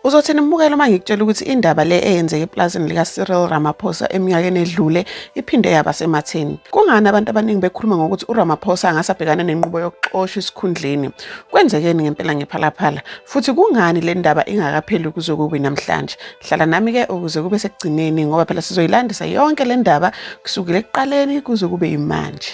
Uzothini mbukela uma ngikutshela ukuthi indaba le eyenzeke eplazini likaCyril Ramaphosa eminyakeni edlule iphinde yaba sematheni. Kungani abantu abaningi bekhuluma ngokuthi uRamaphosa angase abhekane nenqubo yokuxosha isikhundleni? Kwenzekeni ngempela ngephalaphala? Futhi kungani le ndaba ingakapheli kuze kube namhlanje? Hlala nami-ke ukuze kube sekugcineni ngoba phela sizoyilandisa yonke le ndaba kusukela ekuqaleni kuze kube yimanje.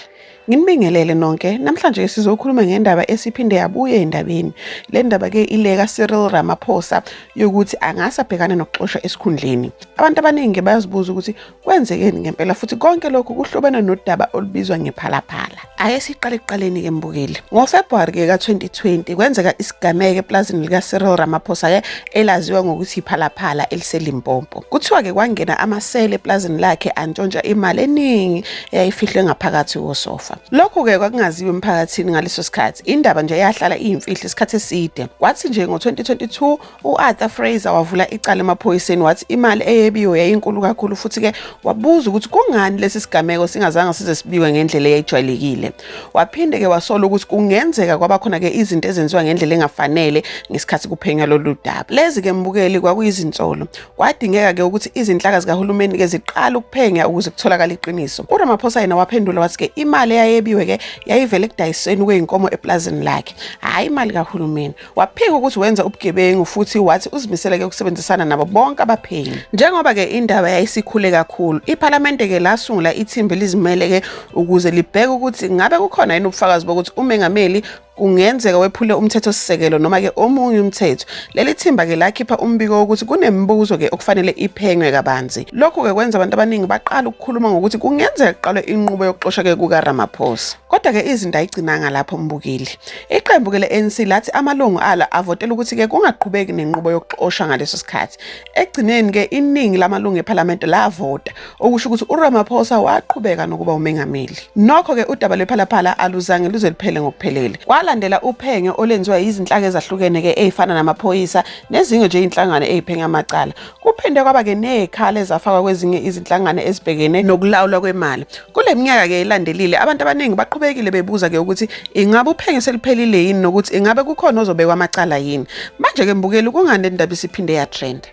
Nginibingelele nonke. Namhlanje sizokhuluma ngendaba esiphinde yabuye endabeni. Le ndaba ke ileka Cyril Ramaphosa yokuthi angase abhekane nokuxoshwa esikhundleni. Abantu abaningi bayazibuza ukuthi kwenzekeni ngempela futhi konke lokhu kuhlobene nodaba olubizwa ngephalaphala. Ake siqale ekuqaleni ke mbukeli. NgoFebruary ke ka-2020 kwenzeka isigameko eplazini lika Cyril Ramaphosa ke elaziwa ngokuthi iphalaphala eliseLimpopo. Kuthiwa ke kwangena amasele eplazini lakhe antshontsha imali eningi eyayifihlwe ngaphakathi kosofa. Lokhu-ke kwakungaziwa emphakathini ngaleso sikhathi. Indaba nje yahlala iyimfihlo isikhathi eside. Kwathi nje ngo-2022 u-Arthur Fraser wavula icala emaphoyiseni wathi imali eyebiwe yayinkulu kakhulu futhi-ke wabuza ukuthi kungani lesi sigameko singazange size sibiwe ngendlela eyayijwayelekile. Waphinde-ke wasola ukuthi kungenzeka kwaba khona-ke izinto ezenziwa ngendlela engafanele ngesikhathi kuphenywa lolu daba. Lezi-ke mbukeli kwakuyizinsolo. Kwadingeka-ke ukuthi izinhlaka zikahulumeni-ke ziqale ukuphenya ukuze kutholakale iqiniso. URamaphosa yena waphendula wathi-ke imali eyayebiwe-ke yayivele ekudayiseni kwey'nkomo epulazini lakhe, hhayi imali kahulumeni. Waphika ukuthi wenza ubugebengu futhi wathi uzimisele-ke ukusebenzisana nabo bonke abaphenyi. Njengoba-ke indaba yayisikhule kakhulu, iphalamende-ke lasungula ithimba elizimele-ke ukuze libheke ukuthi ngabe kukhona yini ubufakazi bokuthi umengameli kungenzeka wephule umthethosisekelo noma-ke omunye umthetho leli thimba-ke lakhipha umbiko wokuthi kunemibuzo-ke okufanele iphenywe kabanzi lokhu-ke kwenza abantu abaningi baqala ukukhuluma ngokuthi kungenzeka kuqalwe inqubo yokuxosha-ke kukaramaphosa kodwa-ke izinto ayigcinanga lapho mbukile iqembu-ke le-anc lathi amalungu alo avotela ukuthi-ke kungaqhubeki nenqubo yokuxosha ngaleso sikhathi Ekugcineni ke iningi lamalungu ePhalamende lavota okusho ukuthi uRamaphosa waqhubeka nokuba umengameli. Nokho ke udaba lwePhalaphala aluzange luze luphele ngokuphelele. Kwalandela uphenyo olwenziwa izinhlaka ezahlukene ke ezifana namaphoyisa nezinye nje izinhlangano eziphenya amacala. Kuphinde kwaba ke nezikhala ezafakwa kwezinye izinhlangano ezibhekene nokulawulwa kwemali. Kule minyaka ke ilandelile abantu abaningi baqhubekile bebuza ke ukuthi ingabe uphenyo seluphelile yini nokuthi ingabe kukhona ozobekwa amacala yini. Manje ke mbukeli kungani le ndaba isiphinde ya trend.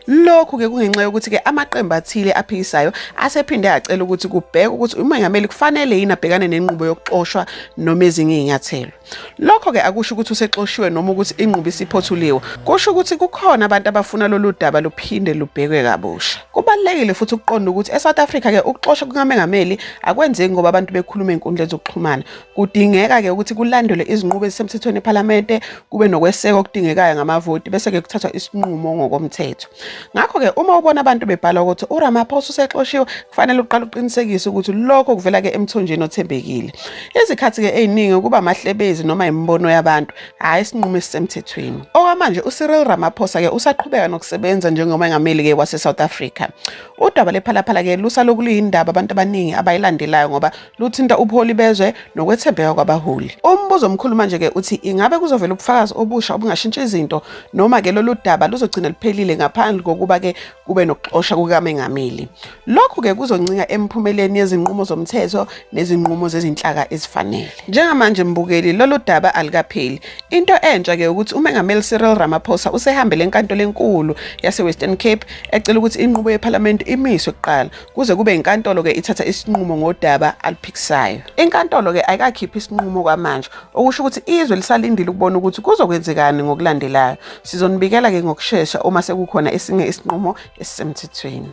Lokhu ke kungenxa yokuthi ke amaqembu athile aphikisayo asephinde acela ukuthi kubhekwe ukuthi umengameli kufanele yini abhekane nenqubo yokuxoshwa noma ezinye izinyathelo. Lokho ke akusho ukuthi usexoshiwe noma ukuthi inqubo isiphothuliwe. Kusho ukuthi kukhona abantu abafuna lolu daba luphinde lubhekwe kabusha. Kubalulekile futhi ukuqonda ukuthi eSouth Africa ke ukuxoshwa kukamengameli akwenzeki ngoba abantu bekhuluma enkundleni zokuxhumana. Kudingeka ke ukuthi kulandelwe izinqubo ezisemthethweni ePhalamende, kube nokweseka okudingekayo ngamavoti bese ke kuthathwa isinqumo ngokomthetho. Ngakho-ke uma ubona abantu bebhala ukuthi uRamaphosa usexoshiwe kufanele uqale uqinisekise ukuthi lokho kuvela-ke emthonjeni othembekile. Izikhathi-ke ey'ningi kuba amahlebezi noma imibono yabantu, hhayi isinqumo esisemthethweni. Okwamanje uCyril Ramaphosa-ke usaqhubeka nokusebenza njengomengameli-ke waseSouth Africa. Udaba lephalaphala-ke lusalokhu luyindaba abantu abaningi abayilandelayo ngoba luthinta ubuholi bezwe nokwethembeka kwabaholi. Umbuzo omkhulu manje-ke uthi ingabe kuzovela ubufakazi obusha obungashintsha izinto noma-ke lolu daba luzogcina luphelile ngaphandle kokuba-ke kube nokuxosha kukamengameli. Lokhu-ke kuzoncinga emiphumeleni yezinqumo zomthetho nezinqumo zezinhlaka ezifanele. Njengamanje mbukeli lolu daba alikapheli. Into entsha-ke ukuthi umengameli Cyril Ramaphosa usehambele enkantolo enkulu yase-Western Cape ecela ukuthi inqubo yephalamende imiswe kuqala kuze kube inkantolo ke ithatha isinqumo ngodaba aluphikisayo inkantolo ke ayikakhiphi isinqumo kwamanje okusho ukuthi izwe lisalindile ukubona ukuthi kuzokwenzekani ngokulandelayo sizonibikela ke ngokushesha uma sekukhona esinye isinqumo esisemthethweni